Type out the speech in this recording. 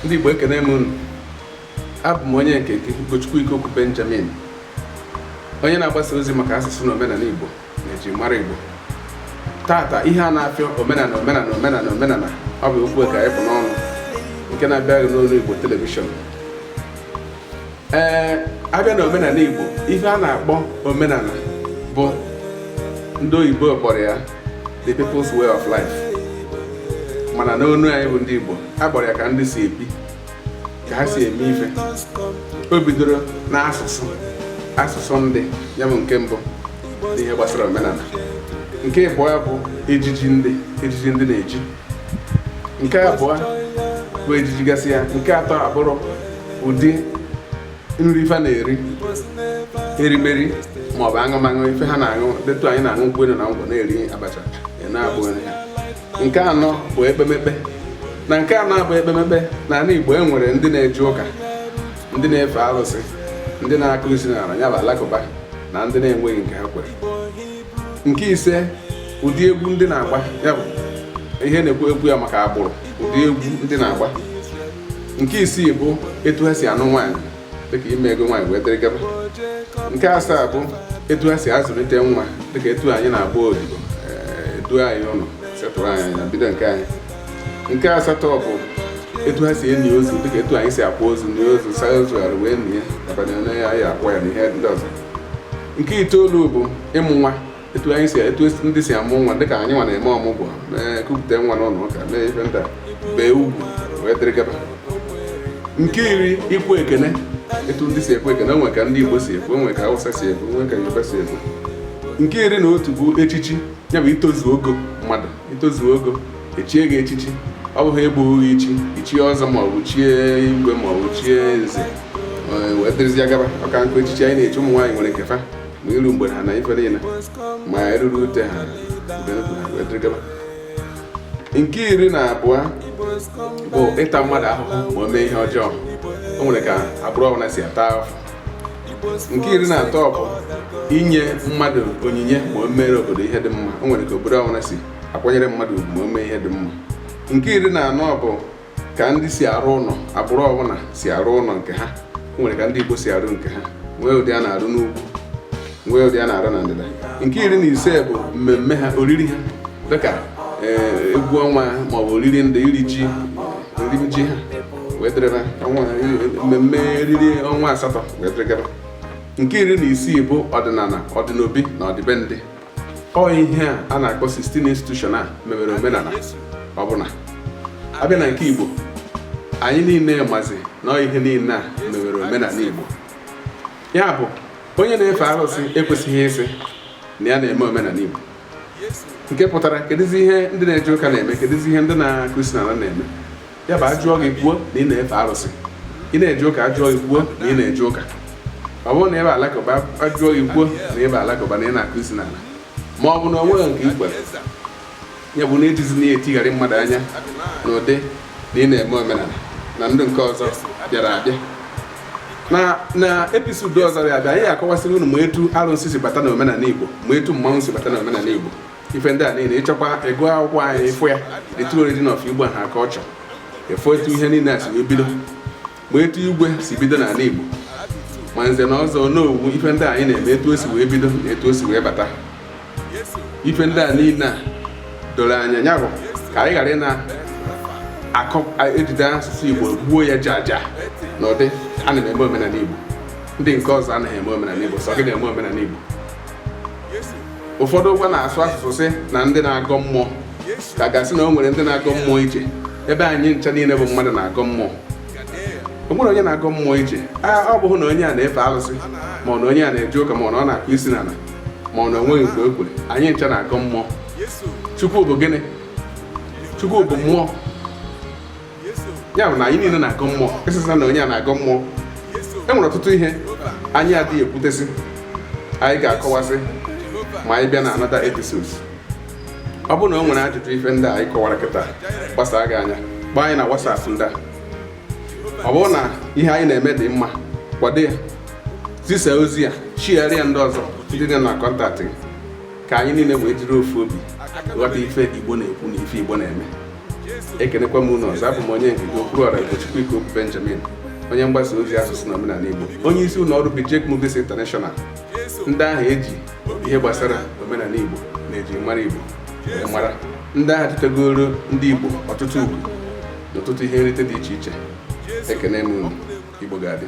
ndị Igbo ekene m unu abụ m onye nke gị Ugochukwu Ikoku Benjamin onye na-agbasa ozi maka asụsụ na omenala Igbo na ejimara Igbo taata ihe a na-afịọ omenala omenala omenala omenala ọ bụ okwu ka anyị bu n'ọnụ nke na-abịara gị n'olu Igbo telivishọn ee abịa na omenala Igbo ife a na-akpọ omenala bụ ndị oyibo kpọrọ ya the people's way of life mana n'onu anyị bụ ndị Igbo a kpọrọ ya ka ndị si ebi ka ha si eme ife o bidoro n'asụsụ asụsụ ndị ya bụ nke mbụ n'ihe gbasara omenala nke ịbụọ bụ ejiji ndị ejiji ndị na-eji nke abụọ bụ ejiji gasị ya nke atọ abụrụ ụdị nri fa na-eri erimeri ma ọ bụ aṅụmaṅụ ife ha na-aṅụ dị etu anyị na-aṅụ nkwụ elu na ngwọ na-eri abacha na-abụ nri ha nke anọ bụ ekpemekpe na nke anọ bụ ekpemekpe na ala Igbo e nwere ndị na-eje ụka ndị na-efe arụsị ndị na-akụ isi n'ala ya bụ alakụba na ndị na-enweghị nke ha kwere nke ise ụdị egwu ndị na-agba ya bụ ihe na-ekwu egwu ya maka agbụrụ ụdị egwu ndị na-agba nke isii bụ etu ha si anụ nwaanyị dịka ime ego nwaanyị wee dịrị gaba nke asaa bụ etu ha si azụlite nwa dịka etu anyị na-agba odibo eh, e duo anyị ụlọ setụrụ anyị anyị ebido nke anyị nke asatọ bụ etu ha si eni ozu dịka etu anyị si akwa ozu na ozu saa ozu arụ wee nie ya abalị onye ya ya akwa ya na ihe ndị ọzọ nke itoolu bụ ịmụ nwa etu anyị si etu ndị si amụ nwa dịka anyị nwa na-eme ọmụgwọ na-ekupụta nwa n'ụlọ ụka mee ife ndị a bee ugwu wee dịrị gaba nke iri ikwu ekene etu ndị si ekwu ekene o nwe ka ndị Igbo si ekwu o nwe ka Hausa si ekwu o nwe ka Yoruba si ekwu nke iri na otu bụ echichi ya bụ itozu ogo mmadụ itozu ogo e chie gị echichi ọ bụghị egbughị gị ichi i chie ọzọ ma ọ bụ chie igwe ma ọ bụ chie nze wee dịrịzịa gaba maka nkụ echichi anyị na-echi ụmụ nwaanyị nwere nke fa ma iru mgbede ha na ife niile ma eruru ute ha wee dịrị gaba nke iri na abụọ bụ ịta mmadụ ahụhụ ma o mee ihe ọjọọ o nwere ka agbụrụ ọbụla si ata ahụhụ nke iri na atọ bụ inye mmadụ onyinye ma o mere obodo ihe dị mma o nwere ka obodo ọbụla si akwanyere mmadụ ugwu ma o mee ihe dị mma nke iri na anọ bụ ka ndị si arụ ụlọ agbụrụ ọbụla si arụ ụlọ nke ha o nwere ka ndị Igbo si arụ nke ha nwee ụdị a na-arụ n'ugwu nwee ụdị a na-arụ na ndịda nke iri na ise bụ mmemme ha oriri ha dịka eh, egwu ọnwa maọbụ oriri ndị iri ji iri ji ha wee dịrịba ọnwa mmemme oriri ọnwa asatọ wee dịrị gaba nke iri na isii bụ ọdịnala ọdịnobi na ọdịbendị ọ ihe a a na-akpọ 16 institution a mewere omenala ọbụla abịa na nke Igbo anyị niile mazi na ọ ihe niile a mewere omenala Igbo ya bụ onye na-efe arụsị ekwesịghị ịsị na ya na-eme omenala Igbo nke pụtara kedụzi ihe ndị na-eje ụka na-eme kedụzi ihe ndị na-akụ isi n'ala na-eme ya bụ ajụọ gị kwuo na ị na-efe arụsị ị na-eje ụka ajụọ gị kwuo na ị na-eje ụka ọ bụrụ na ị bụ alakụba ajụọ gị kwuo na ị bụ alakụba na ị na-akụ isi n'ala ma ọ bụ na ọ nweghị nke i kwere ya bụ na ejizi na-etigharị mmadụ anya na ụdị na ị na-eme omenala na ndị nke ọzọ bịara abịa na na episode ọzọ ya abịa anyị akọwasịrị unu ma etu arụsị si bata na omenala Igbo ma etu mmanwụ si bata na omenala Igbo ife ndị a niile ị chọkwa igo akwụkwọ anyị ị fụ ya the true origin of Igbo ha ka ọ chọ ịfụ etu ihe niile a si wee bido ma etu igwe si bido n'ala Igbo ma nze na ọzọ n'owu ife ndị anyị na-eme etu o si wee bido na etu o si wee bata ife ndị a niile a doro anya ya bụ ka anyị ghara ịna akọ ejide asụsụ Igbo gbuo ya jaja na ụdị ana m eme omenala Igbo ndị nke ọzọ anaghị eme omenala Igbo sọ gị na-eme omenala Igbo ụfọdụ ugbu a na-asụ asụsụ sị na ndị na-agọ mmụọ ka a ga-asị na o nwere ndị na-agọ mmụọ iche ebe anyị ncha niile bụ mmadụ na-agọ mmụọ o nwere onye na-agọ mmụọ iche a ọ bụghị na onye a na-efe alụsị ma ọ na onye a na-eje ụka ma ọ na ọ na-akụ isi n'ala ma ọ na o nweghị nke o kwere anyị ncha na-agọ mmụọ chukwu bụ gịnị chukwu bụ mmụọ ya bụ na anyị niile na-agọ mmụọ ịsịsa na onye a na-agọ mmụọ e nwere ọtụtụ ihe anyị adịghị ekwutesị anyị ga-akọwasị ma anyị bịa na another episodes ọ bụrụ na o nwere ajụjụ ife ndị anyị kọwara kịta gbasaa gị anya gbaa anyị na WhatsApp ndị a ọ bụrụ na ihe anyị na-eme dị mma kwado ya zisa ozi ya share ya ndị ọzọ ndị dị na contact gị ka anyị niile wee jiri ofu obi ghọta ife Igbo na-ekwu na ife Igbo na-eme ekenekwa m unu ọzọ abụ m onye nke gị Okwuruọra Ugochukwu Ikeokwu Benjamin onye mgbasa ozi asụsụ na omenala Igbo onye isi ụlọ ọrụ Bijek Movies International ndị ahụ e ji ihe gbasara omenala Igbo na ejimara Igbo mara ndị ahụ tụtegoro ndị Igbo ọtụtụ ugwu na ọtụtụ ihe nrite dị iche iche ekene m unu Igbo ga-adị